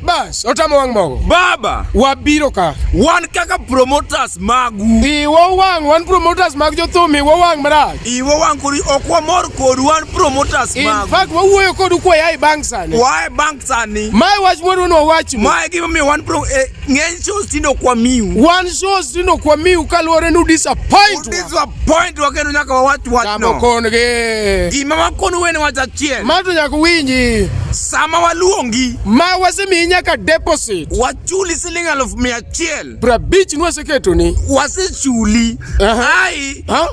Bas, otamo wang' mogo. Baba, wabiro ka. Wan kaka promoters magu. Iwo wang' wan promoters mag jothum iwo wang' marach. Iwo wang' kori ok wamor kod wan promoters magu. In fact wawuoyo kodu kwa yae bang' sani. Wae bang' sani. Mae wach moro no wach. Mae gima mi wan pro eh, ng'eny shows tindo kwa miu. Wan shows tindo kwa miu kaluwore nu disappoint. Disappoint wa kendo nyaka wawach wach no. Tamo kon gi. Gima wakonu wene wach achiel. Mato nyaka winji. sama waluongi ma wasemiyi nyaka deposit wachuli siling alufu mia achiel prabich nwaseketoni wasechuli Aha. ai ha?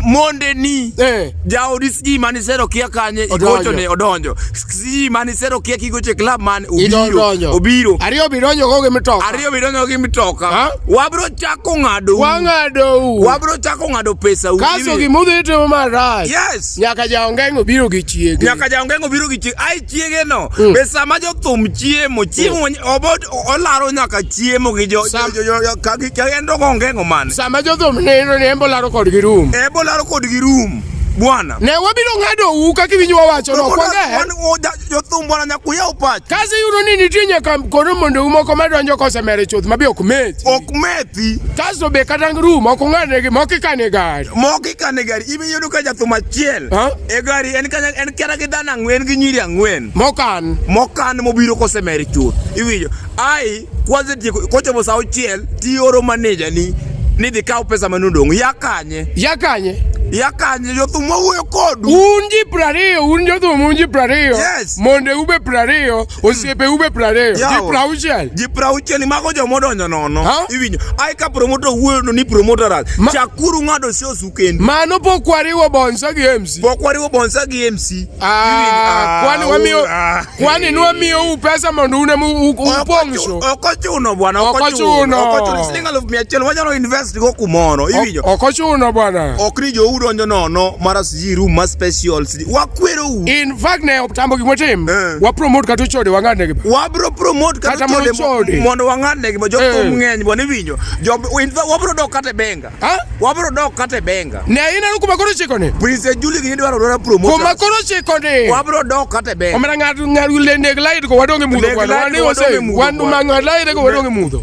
mondeni Eh. jaodi sijui manisero kia kanye Odonjo. igochone odonjo sijui manisero kia kigoche club man obiro idodonjo obiro ariyo bidonjo go gi mitoka ariyo bidonjo gi mitoka Ha? wabiro chako ng'adou wang'adou wabiro chako ng'ado pesau kaso gimudhi timo marach yes Goliath. Nyaka jaongeng'o biro gi chiege. Nyaka jaongeng'o biro gi chiege. Ai chiege no. Mm. Be sama jothum chiemo, chiemo mm. obot olaro nyaka chiemo gi jo Sam, jo, jo, jo ka gi ka endo ongeng'o mane. Sama jothum neno ne embo laro kod gi room. Embo laro kod gi room. Bwana. Ne wabiro ng'ado u kaka iwinjo wawacho no. Kwanga. jothumbo na nyaka uyaw pach kasi yudo ni nitie nyaka koro mondou moko madonjo kosemere chuth mabe ok methi ok methi kasto be kata ru moko ng'adnegi moko ikane gari moko ikane gari ibe yudo ka jathum achiel e gari en kanya en kera gi dhano ang'wen gi nyiri ang'wen mokan mokan mobiro kosemere chuth iwinjo Ai, kwanza tieko kocha mo sao chiel ti oro manager ni ni dhi kaw pesa mane odong' ya kanye ya kanye ya kanye jothum mawuoyo kodu un ji prariyo un jothum un ji prariyo yes. monde ube prariyo osiepe ube prariyo ji prauchiel ji prauchiel mago joma odonjo nono iwinjo ai ka promoter wuoyo no ni promoter ras Ma chakuru ng'ado sio sukendi mano pok wariwo bonsa gi MC pok wariwo bonsa gi MC ah, ah, kwani wamiyo ah. Kwani nwa miyo u pesa mondo une mu upong'so? Ok ochuno bwana, ok ochuno. Ok ochuno siling aluf mia achiel wanyalo invest go kumoro. Iwinjo? Ok ochuno bwana. Ok ni jou donjo nono mara siji room ma special. Wakwero u. In fact ne optambo gik motim. Eh. Wa promote kata chode wang'ad ne gima. Wa bro promote kata chode mondo wang'ad ne gima. Jothum eh. ng'eny bwana iwinjo. Job in fact wa bro dok kata benga. Ha? Wabro dok kata e benga. Ne ina ruku makoro chiko ni. Prince Julie gini dwaro dwara promotion. Kuma koro chiko ni. Wabro dok kata e benga. Omera ng'at ng'at lende glide ko wadonge mudho kwana. Wani ose. Wanu mang'at lende ko wadonge mudho.